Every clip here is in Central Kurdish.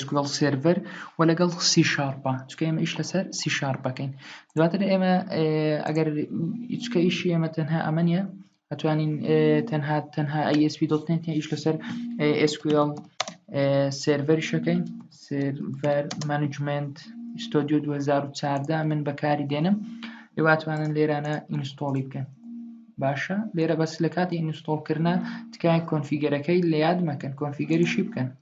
SQL سێرڤەر و لەگەڵ سی شارپە چکە ئێمە ئیش لەسەر سی شارپەکەین دواتر ئێمە ئەگەر چکە ئیشی ئێمە تەنها ئەمە نیە ئەتوانین تەنها تەنها ئەسپی دڵتێن ئیش لەسەر SQL سێرڤەری شەکەین سێرڤەر مانجمنت ستۆدیو 2014 من بەکاری دێنم ئێواتوانن لێرانە ئینستۆڵی بکەن باشە لێرە بەس لە کاتی ئینستۆڵکردە تکایە کۆنفیگەرەکەی لە یاد مەکەن کۆنفیگەریشی بکەن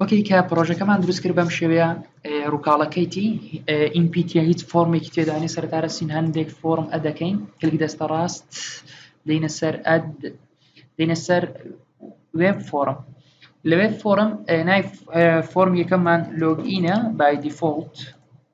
وەکەی کە پرۆژەکەمان دروست کرد بەم شێوەیە ڕووکاڵەکەیتی ئینپیتە هیچ فۆرمێکی تێدانی سەرتارە سین هەندێک فۆرم ئەدەکەین کلک دەستە ڕاست دینە سەر ئەد دینە سەر وێب فۆرم لەوێ فۆرم نای فۆرم یەکەممان لۆگینە بای دیفۆلت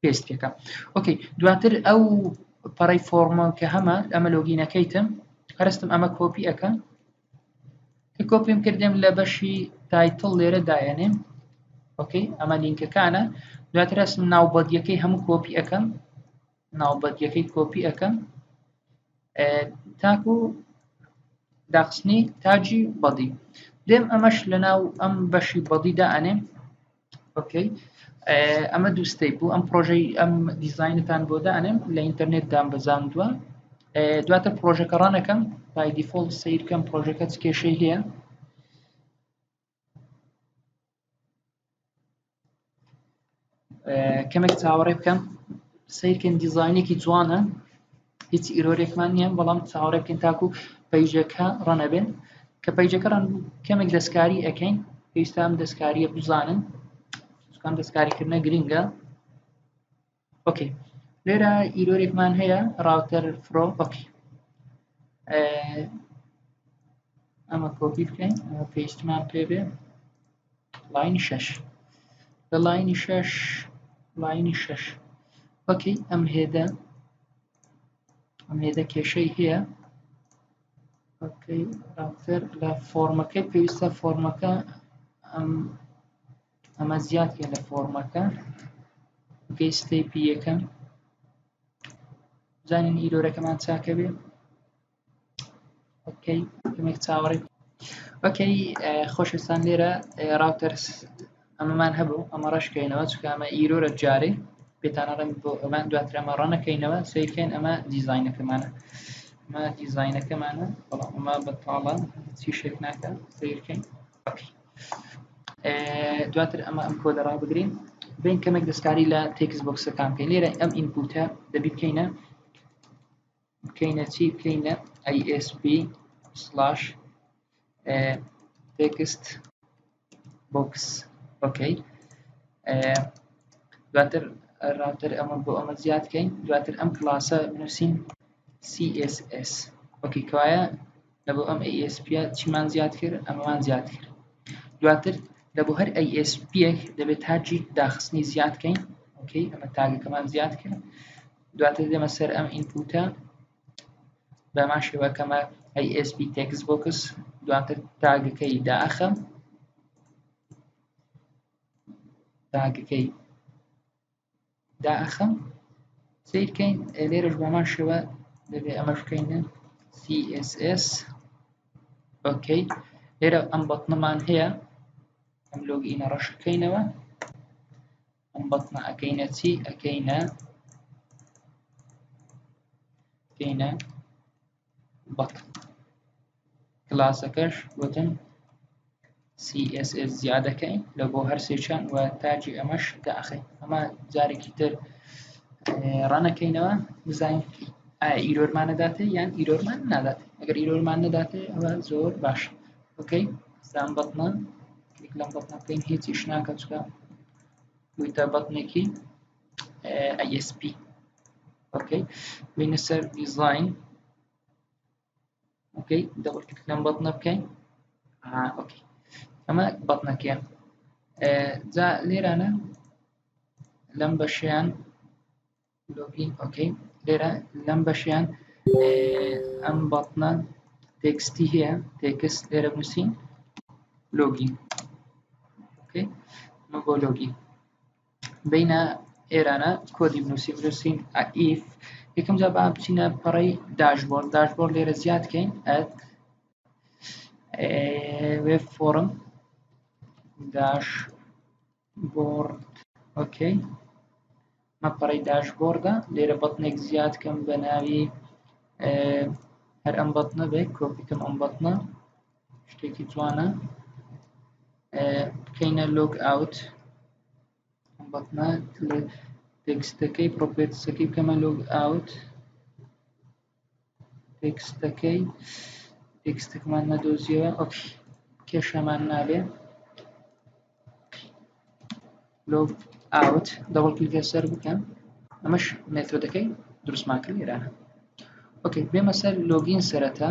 پێست پێکە ئۆکەی دواتر ئەو پەڕی فۆرمە کە هەمە ئەمە لۆگینەکەیتم هەرستم ئەمە کۆپی ئەەکەم کە کۆپیم کردم لە بەشی تایتڵ لێرە دایەنێم ئۆکەی ئەمە لینکەکانە دواتر ئەسم ناوبەدیەکەی هەموو کۆپی ئەەکەم ناوبەدیەکەی کۆپی ئەەکەم تاکو داخستنی تاجی بەدی دێم ئەمەش لە ناو ئەم بەشی بەدیدا ئەنێم ئۆکەی ئەمە دووستەی بوو ئەم پرۆژەی ئەم دیزینتان بۆ دانێم لە ئینتەرنێت دام بەزاندووە دواتە پرۆژەکە ڕانەکەم پای دیفۆڵ سیرکەم پرۆژەکە چ کێشەی هەیە کەمێک چاوەڕێ بکەم سیرکن دیزینێکی جوانە هیچ ئیرۆرێکمان نییە بەڵام چاوەڕێ بکەین تاکو پەیجەکە ڕەنەبێن کە پەیجەکە ڕەن کەمێک دەستکاری ئەەکەین پێویستام دەستکاریە بزانن سوکان دەستکاریکردنە گرنگە ئۆکەی لێرە ئیرۆرێکمان هەیە ڕاوتەر فرۆ ئۆکی ئەمە کۆپی بکەین پێستمان پێ بێ لاینی شەش لە لاینی شەش لاینی شەش وەکەی ئەم هێدە ئەم هێدە کێشەی هەیە راوتەر لە فۆرمەکەی پێویستە فۆرمەکە ئەم ئەمە زیاتکە لە فۆرمەکە گەی ستەیپی یەکەم زانین ئیرۆرەکەمان چاکە بێ ئۆکەی کەمێک چاوەڕێ ئۆکەی خۆشەویستان لێرە ڕاوتەرس ئەمەمان هەبوو ئەمە ڕەشکەینەوە چکە ئەمە ئیرۆرە جارێ پێتانەڕێن بۆ ئەمان دواتر ئەمە ڕەنەکەینەوە سیرکەین ئەمە دیزینەکەمانە ئەمە دیزینەکەمانە بەڵام ئەمە بەتاڵە چی شێک ناکە سیرکەین ئۆکەی دواتر ئەمە ئەم کۆدە ڕابگرین بین کەمێک دەستکاری لە تێکس بۆکسەکان پێ لێرە ئەم ئینپوتە دەبی بکەینە بکەینە چی بکەینە ISP سلاش تێکست بۆکس ئۆکەی دواتر ڕاتر ئەمە بۆ ئەمە زیاد کەین دواتر ئەم کلاسە بنووسین CSS وەکی کەوایە لە بۆ ئەم ASP چیمان زیاد کرد ئەمەمان زیاد کرد دواتر لە بۆ هەر ASP دەبێت تاجی داخستنی زیاد کەین ئۆکەی ئەمە تاگەکەمان زیاد کرد دواتر دێمە سەر ئەم ئینپوتە بەمان شێوە کەمە ئەی ئسP تێکس بۆکس دواتر تاگەکەی داخەم تاگەکەی داخەم سیرکەین لێرەش بەمان شێوە دەبێ ئەمەش بکەینە CSS ئۆکەی لێرە ئەم بەتنەمان هەیە ئەم لۆگینە ڕەشەکەینەوە ئەم بەتنە ئەکەینە چی ئەکەینە کەینە بەت کلاسەکەش وتن CSS زیادەکەین لە بۆ هەرسێکیان و تاجی ئەمەش داخین ئەمە جارێکی تر ڕەنەکەینەوە بزانین ئایرۆرمان نەداتێ یان ئیرۆرمان نادات ئەگەر ئیرۆرمان نەداتێ ئەوە زۆر باش بکەین سام بەتنە کلیک لەم بەتنە بکەین هیچیش ناکە چکە بوویتە بەتنێکی ISP ئۆکەی بینە سەر دیزاین ئۆکەی دەبڵ کلیک لەم بەتنە بکەین ئۆکەی ئەمە بەتنەکەیە جا لێرانە لەم بەشیان لۆگین ئۆکەی لێرە لەم بەشیان ئەم بەڵتنە تێکستی هەیە تێکست لێرە بنووسین لۆگین ئۆکەی مە بۆ لۆگین بینە ئێرانە کۆدی بنووسی بنووسین ئەئیف یەکەم جا با بچینە پەڕی داشبۆر داشبۆر لێرە زیاد کەین ئەت وێب فۆرم داش بۆرد ئۆکەی ئەمە پەڕەی داشبۆردە لێرە بەتنێک زیاد کەم بە ناوی هەر ئەم بەتنە بێت کۆپیکەم ئەم بەتنە شتێکی جوانە بکەینە لۆگ ئاوت ئەم بەتنە تێکستەکەی پرۆپێتسەکەی بکەمە لۆگ ئاوت تێکستەکەی تێکستەکەمان نەدۆزیەوە ئەو کێشەمان نابێ لۆگ ئاوت دەوڵ کلیک لەسەر بکەم ئەمەش مێتۆدەکەی دروستمان کرد لێرانە ئۆکەی بێمە سەر لۆگین سەرەتا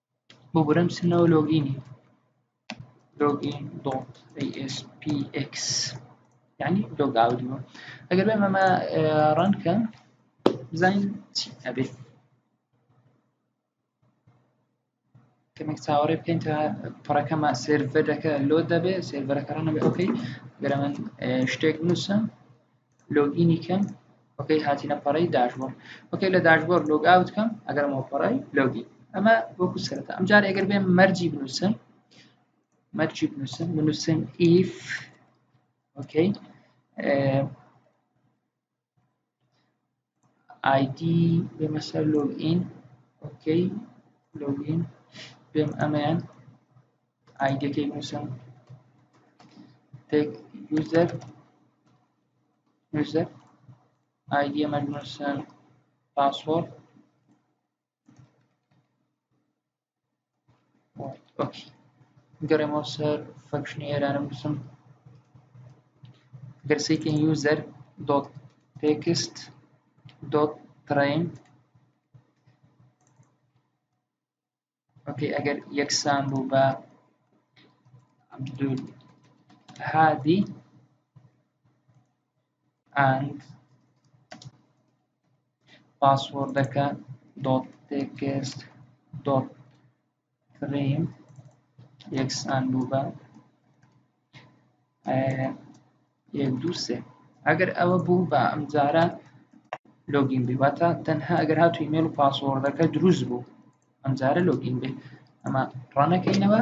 ببورە ئەم سنەوە لۆگینی لۆگین دۆت ASPX یعنی لۆگ ئاودیوە ئەگەر بێم ئەمە ڕەنکە بزانین چی ئەبێت کەمێک چاوەڕێ بکەین تا پڕەکەمە سێرڤەرەکە لۆ دەبێت سێرڤەرەکەڕانەبێ ئۆکەی گەرەمەن شتێک نووسم لۆگینی کەم وەکەی هاتینە پەڕی داشبۆر وەکەی لە داشبۆر لۆگ ئاوت کەم ئەگەرمەوە پەڕی لۆگی ئەمە وەکو سەرەتا ئەم جارە ئەگەر بێن مەرجی بنووسن مەرجی بنووسن بنووسن ئیف وەکەی ئایدی بێمە سەر لۆگ ئین ئۆکەی لۆگ ئین بێم ئەمەیان ئایدەکەی بنووسم تێک یوزەر یوزەر ئایدی ئەمە بنووسم پاسۆرد باش گەڕێمەوە سەر فەکشنی ئێرانم بسم گەرسێکی یوزەر دۆت تێکست دۆت ترین ئۆکەی ئەگەر یەکسان بوو بە عبدول هادی ئەند پاسوۆردەکە دۆت تێکست دۆت تریم یەکس ئەند بوو بە یەک دوو سێ ئەگەر ئەوە بوو بە ئەمجارە لۆگین بی واتە تەنها ئەگەر هاتو ئیمێل و پاسۆردەکە دروست بوو ئەمجارە لۆگین بێ ئەمە ڕانەکەینەوە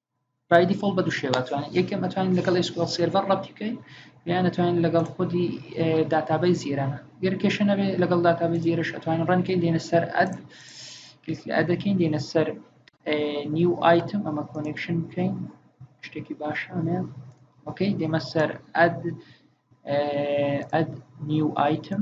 بای دیفۆڵ بە دوو شێوە توانین یەکەم ئەتوانین لەگەڵ SQL سێرڤەر ڕەبتی بکەین یان ئەتوانین لەگەڵ خودی داتابەی زیێرانە گەر کێشە نەبێ لەگەڵ داتابەی زیێرش ئەتوانین ڕەنکەین دێنە سەر ئەد ئەدەکەین دێنە سەر نیو ئایتم ئەمە کۆنێکشن بکەین شتێکی باشانە ئۆکەی دێمە سەر ئەد ئەد نیو ئایتم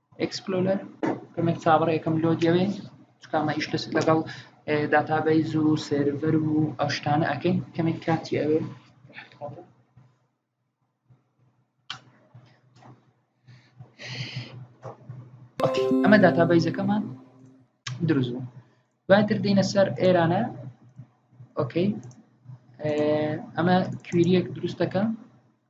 ئەکسپلۆلەر کەمێک چاوەڕێ یەکەم لۆ دەوێ چکامە ئیش دەست لەگەڵ داتابەیز و سێرڤەر و ئەو شتانە ئەەکەین کەمێک کاتی ئەوێ ئەمە داتابەیزەکەمان دروست بوو دواتر دێنە سەر ئێرانە ئۆکەی ئەمە کویریەک دروستەکە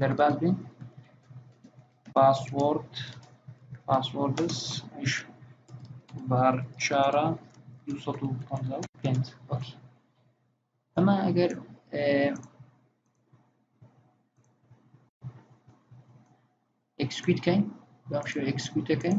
دەرباز بین پاسوۆرد پاسوۆردس ئیش بار چارە پێنج وەکی ئەمە ئەگەر ئەکسکویتکەین بەم شێوە ئەکسکویتەکەین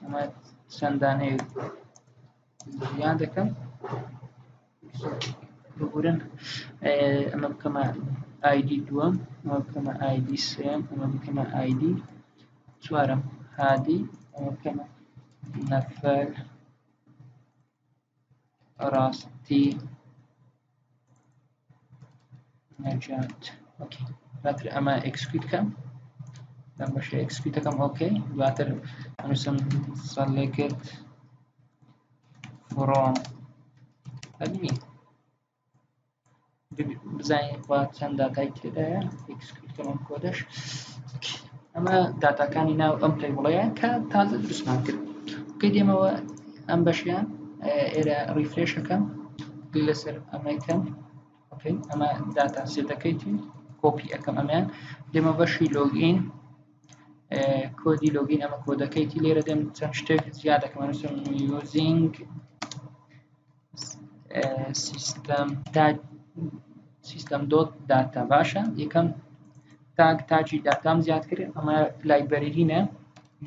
ئەمە چەند دانەیە یان دەکەم بگورن ئەمە بکەمە ئایدی دووەم ئەمە بکەمە ئایدی سێم ئەمە بکەمە ئایدی چوارم هادی ئەمە بکەمە نەفەر ڕاستی نەجات ئۆکەی دواتر ئەمە ئەکسکویت کەم لەم بەشە ئەکسکویتەکەم ئۆکەی دواتر ئەنووسم سەلێکت فڕۆم ئەبینی بزانین خوا چەند داتای تێدایە ئەم کۆدەش ئەمە داتاکانی ناو ئەم پێی بڵەیە کە تازە دروستمان کرد کە دێمەوە ئەم بەشیان ئێرە ڕیفرێشەکەم لەسەر ئەمەکەم ئەمە داتا سێتەکەیتی کۆپی ئەەکەم ئەمیان دێمە بەشی لۆگین کۆدی لۆگین ئەمە کۆدەکەیتی لێرە دێم چەند شتێک زیادەکەمەنووسم یوزینگ سیستەم تاک سیستەم دۆت داتا باشە یەکەم تاک تاجی داتام زیاد کرد ئەمە لایبەرینە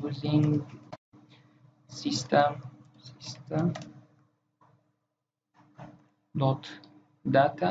یوزینگ سیستەم سیستەم دۆت داتا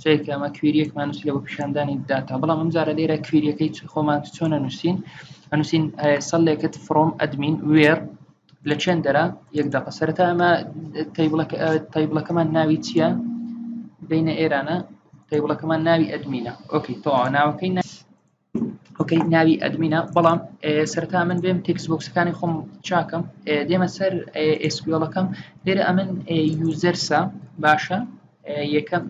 چونکە ئەمە کوێریەکمان نووسی لە بۆ پیشاندانی داتا بەڵام ئەم جارە لێرە کوێریەکەی خۆمان چۆنە نووسین ئەنووسین سەلێکت فرۆم ئەدمین وێر لە چێن دەرا یەک دەقە سەرەتا ئەمە تایبڵەکەمان ناوی چییە بینە ئێرانە تایبڵەکەمان ناوی ئەدمینە ئۆکی تەوا ناوەکەی ناس ئۆکەی ناوی ئەدمینە بەڵام سەرتا من بێم تێکس بۆکسەکانی خۆم چاکەم دێمە سەر ئسکیۆڵەکەم لێرە ئەمن یوزەرسا باشە یەکەم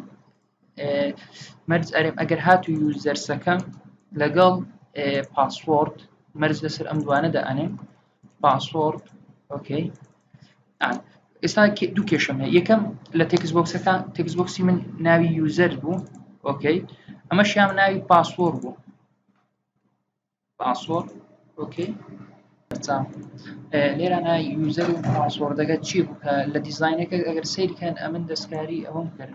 مەرز ئەرێم ئەگەر هات و یوزەرسەکەم لەگەڵ پاسپۆرت مەرز لەسەر ئەم دوانە دەئەنێم پاسپۆرت ئۆکەی ئێستا دوو کێشەمە یەکەم لە تێکس بۆکسەکان تێکس بۆکسی من ناوی یوزەر بوو ئۆکەی ئەمە شیام ناوی پاسۆر بوو پاسۆر ئۆکەی لێرانە یوزەر و پاسۆردەگە چی بوو کە لە دیزینەکە ئەگەر سیرکەن ئەمن دەستکاری ئەوم کرد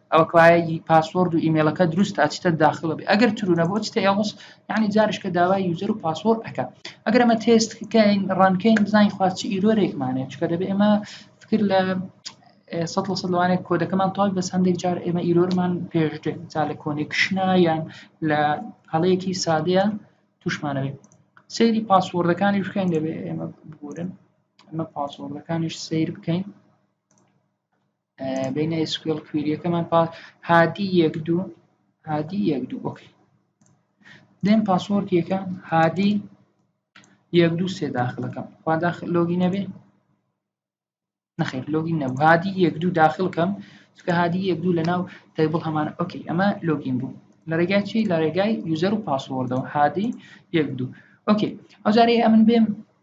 ئەوە کەوایە ی پاسۆرد و ئیمێلەکە دروست تا چتە داخلە بێ ئەگەر ترو نەبوو چتە ئێڵس یعنی جارشکە داوای یوزەر و پاسۆر ئەەکە ئەگەر ئەمە تێست کەین ڕانکەین بزانین خواست چ ئیرۆرێکمانێت چکە دەبێ ئێمە فکر لە سە لە سە لەوانێت کۆدەکەمان تاوای بەس هەندێک جار ئێمە ئیرۆرمان پێشتێ جا لە کۆنێکشنا یان لە هەڵەیەکی سادەیە توشمانەوێت سەیری پاسۆردەکانی بکەین دەبێت ئێمە بگورن ئەمە پاسۆردەکانیش سیر بکەین بین SQL کویریەکەمان پا هادی یەک دوو هادی یەک دوو ئۆکی دێن پاسۆرد یەکە هادی یەک دوو سێ داخلەکەم خوا داخل لۆگی نەبێ نەخێر لۆگی نەبوو هادی یەک دوو داخلکەم چکە هادی یەک دوو لە ناو تەیبڵ هەمان ئۆکی ئەمە لۆگین بوو لە ڕێگای چی لە ڕێگای یوزەر و پاسۆردەوە هادی یەک دوو ئۆکی ئەو جارەیە ئەمن بێم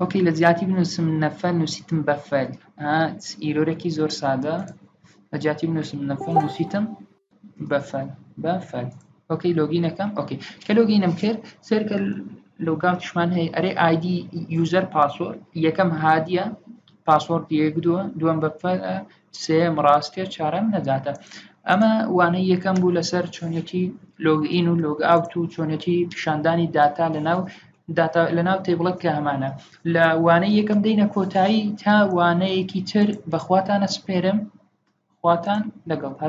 وەکی لە جیاتی بنووسم نەفە نووسیتم بە فەل ئیرۆرەکی زۆر سادە لە جیاتی بنووسم نەفە نووسیتم بە فەل بە فەل ئۆکەی لۆگینەکەم ئۆکەی کە لۆگینم کرد سەرکە لۆگاوتشمان هەیە ئەرێ ئایدی یوزەر پاسۆر یەکەم هادیە پاسۆرد یەک دووە دووەم بە فەلە سێیەم ڕاستیە چارەم نەجاتە ئەمە وانەی یەکەم بوو لەسەر چۆنێتی لۆگئین و لۆگ ئاوت و چۆنێتی پیشاندانی داتا لەناو داتا لەناو تێبڵک کە هەمانە لە وانەی یەکەم دەینە کۆتایی تا وانەیەکی تر بەخواتانە سپێرم خواتان لەگەڵ هەر